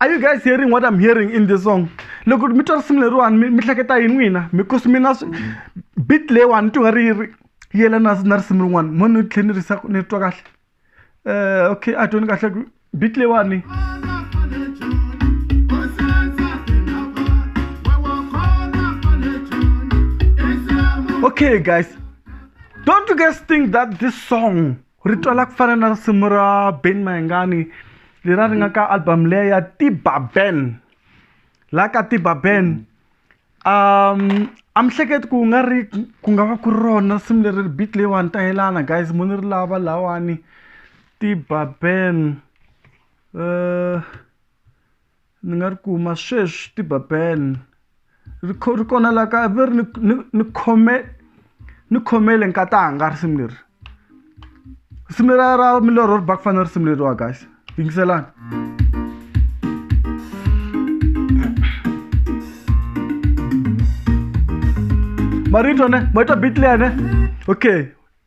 are you guys hearing what i'm hearing in this song loko mi twa risimu leriwani mi hleketa yini n'wina because mina bit leyiwani ni twi nga ri yi ri yelana na risimu rin'wana mo ni tlhela ni risa ni twa kahle um okay a tweni kahle ku bit leyiwani okay guys don't you guys think that this song ri twala ku fana na risimu ra ben mayengani leri a ri nga ka album leya ya tiba ben la ka tiba ben um a mi hleketi ku nga ri ku nga va ku ri rona risimu leri ri beat leyiwani ta yelana guys mo ni ri lava lawani tiba ben uh, Ni nga ri kuma sweswi ti-Babel ri kho ri kona la kaya ve ri ni ni ni khome ni khomele nkatanga risimu leri risimu leriya ra milorho ri ba ku fana na risimu leriwa guys yingiselani marito ne ma twa beat leya ne okay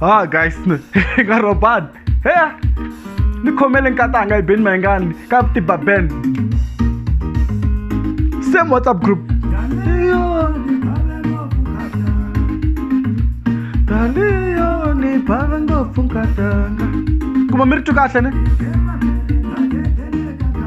ha guys ni nga robani he ni khomele nkatanga ibeni mayingani ka tiba band same whatsapp group kuma mi ri tu kahle ne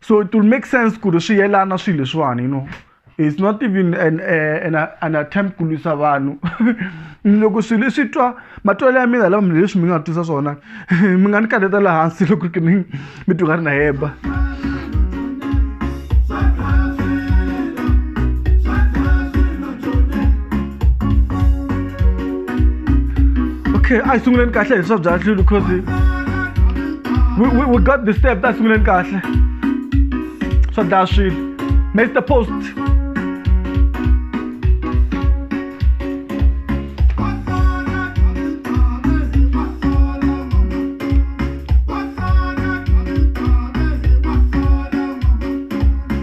so it will make sense ku ri swi yelana swilo leswiwani you know it's not even an, uh, an, an attempt ku lwisa vanhu loko swilo leswi twa matwelo ya mina lava mina leswi mi nga twisa swona mi nga ni kaleta laha hansi loko ri kini mi twa nga ri na heba okay a hi sunguleni kahle hi swa bya nhlilu because we, we, we got the step ta hi sunguleni kahle swa dlaya swilo mr post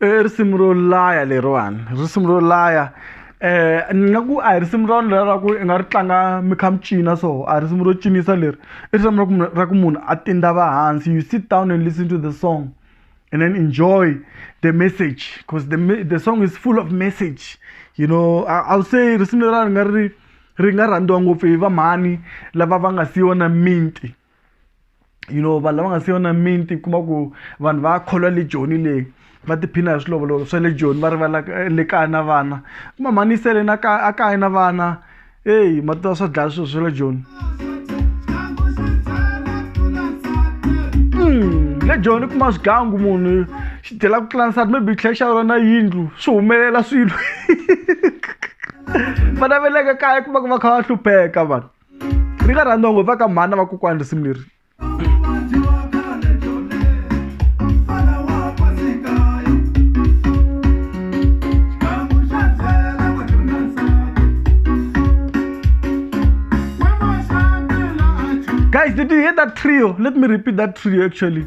i risimu ro laya leriwani risimu ro laya um ni nga ku a hi risimu ra vanhu leraku i nga ri tlanga mi kha mi cina so a hi risimu ro cinisa leri i risimu ra ku munhu ra ku munhu a tindava hansi you sit down and listen to the song and then enjoy the message because the, the song is full of message you know i would say risimu leriwani ri nga ri ri nga rhandziwa ngopfu hi vamhani lava va nga si yona minti you know vanhu lava nga se va na miti kuma ku vanhu va kholwa le joni leyi va tiphina hi swilovolovo swa le joni va rivala le kaya na vana kuma mhani sele na kaya a kaya na vana eyi ma tiva swa dlaya swilo swa le joni hmm, le joni kuma swigangu munhu xi dyela ku tlula nsati maybe tlhela xa rona yindlu swi humelela swilo vana va le ka kaya kuma ku va kha va hlupheka vanhu ri nga rhandziwa ngopfu va ka mhani na vakokwani risimu leri guys did you hear that trio let me repeat that trio actually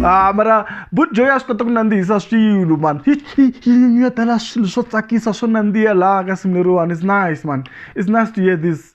Ah, mara but joy a swi kota ku nandzihisa swilo mani ya tala swilo swo tsakisa swo nandziha laha ka simu leriwani is nice mani is nice to hear this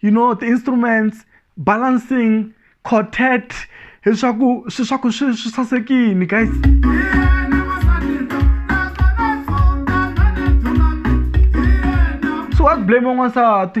you know ti-instruments balancing quartet leswaku swi swa ku swi swi sasekini guys so wa blame n'wansati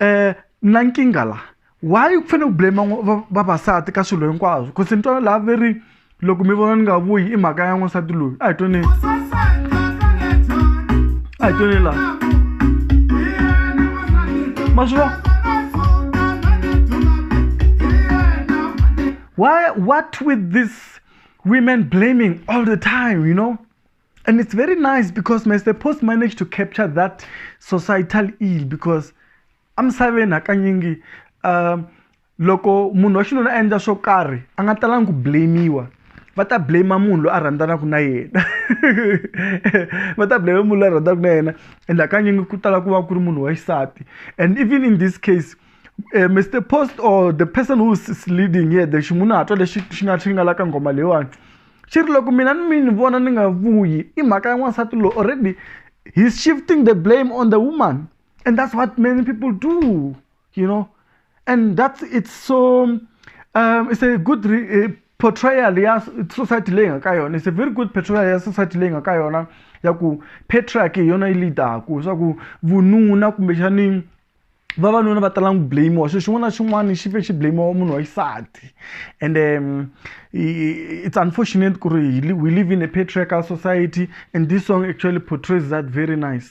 um na nkingha la why ku fanele ku blame vavasati ka swilo hinkwaswo ku se ni twana laha ve ri loko mi vona ni nga vuyi i mhaka ya n'wansati loyi a hi twaneni a hi twaneni laha ma swi vona why what with this women blaming all the time you know And it's very nice because Mr. Post managed to capture that societal ill because I'm saving hakanyingi um loko munhu wa xinuna a endla swo karhi a nga talangi ku blamiwa va ta blame munhu loyi a rhandzanaka na yena va ta blame munhu loyi a rhandzanaka na yena and hakanyingi ku tala ku va ku ri munhu wa xisati and even in this case uh, mr post or the person who's leading here the ximunhatwa lexi xi nga xi nga la ka nghoma leyiwani xi ri loko mina ni mi ni vona ni nga vuyi i mhaka ya n'wansati loyi already he's shifting the blame on the woman and that's what many people do you know and that's it's so um, it's a good re, uh, portrayal ya society leyi nga ka yona it's a very good portrayal ya society leyi nga ka yona ya ku patriarchy hi yona yi leadaku swa ku vununa kumbexani vavanuna va tala ku blamiwa xilo xin'wana na xin'wana xi fe xi blamiwa wa munhu wa xisati and um, it's unfortunate ku ri we live in a patriarchal society and this song actually portrays that very nice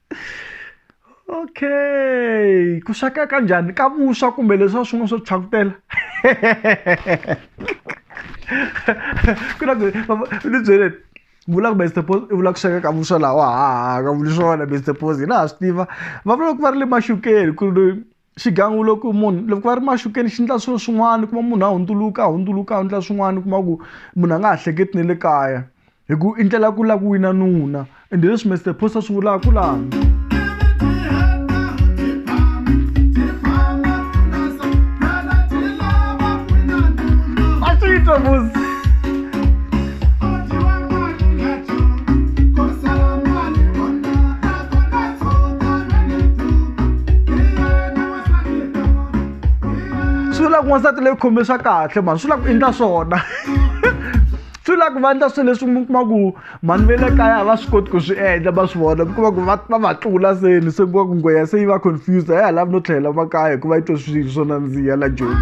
okay ku sweka ka njhani ka vuswa kumbe leswiwa swin'wana swo tshwakutela ku na ni byeleni vula ku best pos i vula ku sweka ka vuswa lawa haha ka vuli swona best pos hi na ha swi tiva va vula ku va ri le maxukeni ku ri xigan'we loko munhu loko va ri maxukeni xi endla swilo swin'wana kuma munhu a hundzuluka a hundzuluka a endla swin'wana kuma ku munhu a nga ha hleketi na le kaya hi ku i ndlela ku lava ku wina nuna ende hi leswi Mister Post a swi vulaka ku laha a swi twa musi. swi vula ku n'wansati leyi khome swa kahle mhani swi vula ku endla swona swi vula ku va endla swilo leswi mi kuma ku mhani ve le kaya a va swi koti ku swi endla va swi vona mi kuma ku va va va tlula seni se kuma ku ngweya se yi va confused a ya ha lavi no tlhelela makaya hikuva yi twe swilo swo nandziha la joni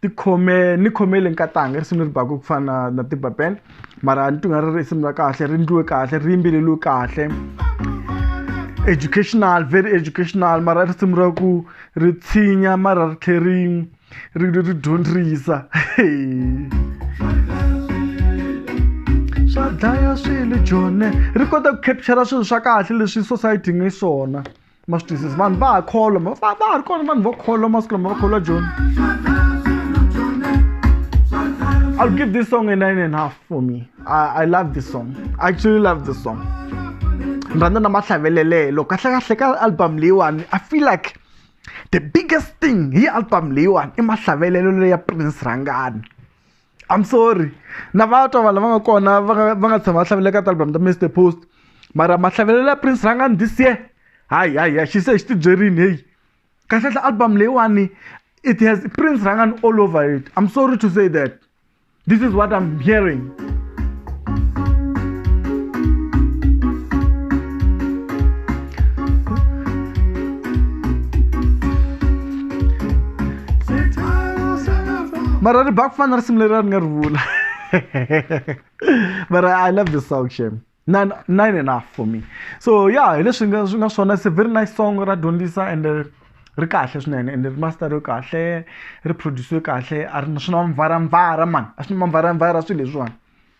ti khome ni khome le nkatanga risimu leri baku ku fana na na tibapen mara ni twinga ri ri risimu ra kahle ri ndliwe kahle ri yimbeleliwe kahle educational very educational mara risimu ra ku ri tshinya mara ri tlhe ri ri ri ri dyondzisa swa dlaya swilo jone ri kota ku capture swilo swa kahle leswi society nge swona masitwisisi vanhu va ha kholoma va va ha ri kona vanhu va kholwa masiku lama va kholwa joni I'll give this song a nine and a half for me. I, I love this song. I actually love this song. Ni rhandza na mahlavelelelo kahle kahle ka album leyiwani I feel like the biggest thing hi album leyiwani i mahlavelelo leya Prince Rhangani. I'm sorry na va twa vanhu lava nga kona va nga va nga tshama va hlavelela ka ti-album ta Mister Post mara mahlavelelo ya Prince Rhangani this year hayi hayi hayi xi se xi tibyerini heyi kahlekahle album leyiwani it has Prince Rhangani all over it I'm sorry to say that this is what I'm hearing mara ri ba ku fana na risimu leri a ri nga ri vula mara i love this song shem nine, nine enough for me so ya hi leswi nga swi nga swona it's a very nice song ra dyondzisa and uh, ri kahle swinene and ri masteriwe kahle ri produciwe kahle a ri na swi na mvara mvara mani a swi na mvara mvara swilo leswiwani